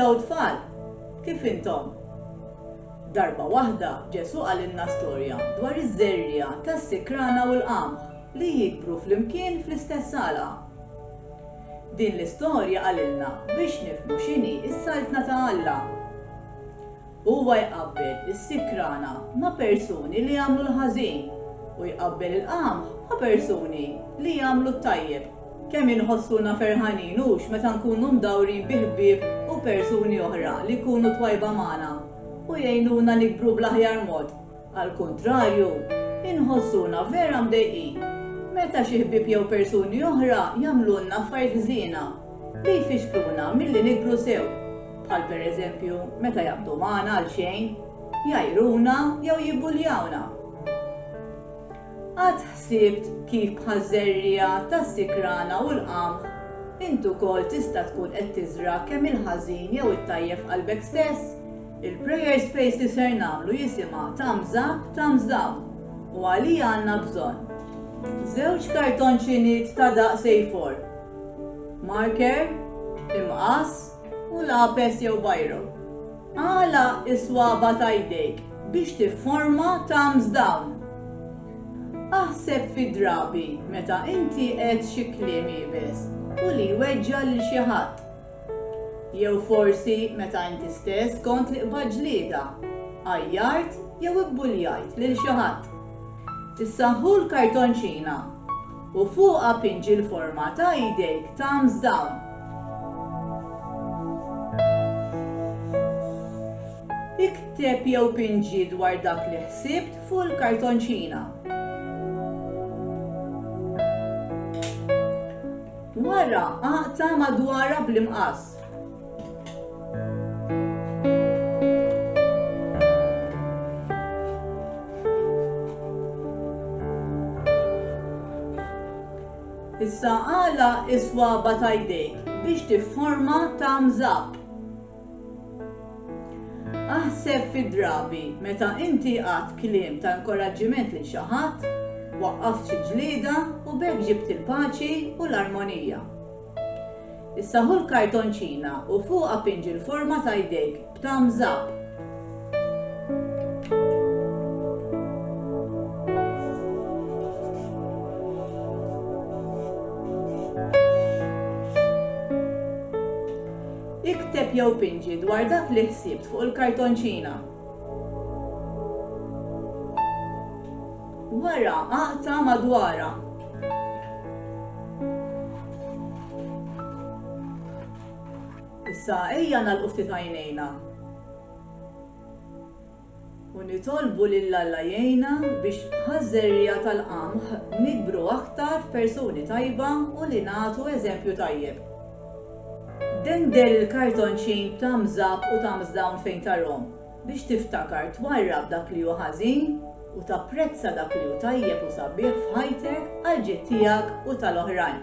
Hello tfal! Kif intom? Darba waħda Ġesù qalilna storja dwar iż-żerriegħa tas-sikrana u l-qamħ li jikbru flimkien fl-istess għalqa. Din l-istorja qalilna biex nifhmu x'inhi s-Saltna ta' Alla. Huwa jqabbel is-sikrana ma' persuni li jagħmlu l-ħażin u jqabbel il-qamħ ma' persuni li jagħmlu t-tajjeb. Kemm inħossuna ferħanin hux meta nkunu mdawrin bi ħbieb u persuni oħra li jkunu twajba magħna u jgħinuna nikbru bl-aħjar mod! Għall-kuntrarju, inħossuna vera mdejqin meta xi ħbieb jew persuni oħra jagħmlulna affarijiet ħżiena li jfixkluna milli nikbru sew, bħal pereżempju meta jaqbdu magħna għalxejn, jgħajruna jew jibbuljawna. Qatt ħsibt kif bħaż-żerriegħa tas-sikrana u l-qamħ int ukoll tista' tkun qed tiżra' kemm il-ħażin jew it-tajjeb f'qalbek stess? Il-prayer space li ser nagħmlu jisimha Thumbs Up, Thumbs Down u għalija għandna bżonn żewġ kartonċiniet ta' daqs A4, marker, imqass u lapes jew biro. Għala is-swaba ta' jdejk biex tifforma thumbs down. Aħseb fi drabi meta inti qed xi kliem iebes u li jweġġa' lil xi ħadd. Jew forsi meta inti stess kont li qbadt ġlieda, għajjart jew ibbuljajt lil xi ħadd. Issa ħu l-kartonċina u fuqha pinġi l-forma ta' idejk thumbs down. Ikteb jew pinġi dwar dak li ħsibt fuq il-kartonċina. Wara aqta' madwarha bl-imqass. Issa għala is-swaba' ta' jdejk biex tifforma ta' mżabb. Aħseb fid-drabi meta inti għadt kliem ta' inkoraġġiment lil xi ħadd, waqqaft xi ġlieda u b'hekk ġibt il-paċi u l-armonija. Issa ħu l-kartonċina u fuqha pinġi l-forma ta' jdejk b'thumbs up. Ikteb jew pinġi dwar dak li ħsibt fuq il-kartonċina. Wara aqta' madwarha. Issa ejja nagħlqu ftit għajnejna. u nitolbu lil Alla jgħinna biex bħaż-żerriegħa tal-qamħ nikbru aktar f'persuni tajba u li nagħtu eżempju tajjeb. Dender il-kartonċin b'thumbs up u thumbs down fejn tarhom, biex tiftakar twarrab dak li hu ħażin u tapprezza dak li hu tajjeb u sabiħ f'ħajtek għall-ġid tiegħek u tal-oħrajn.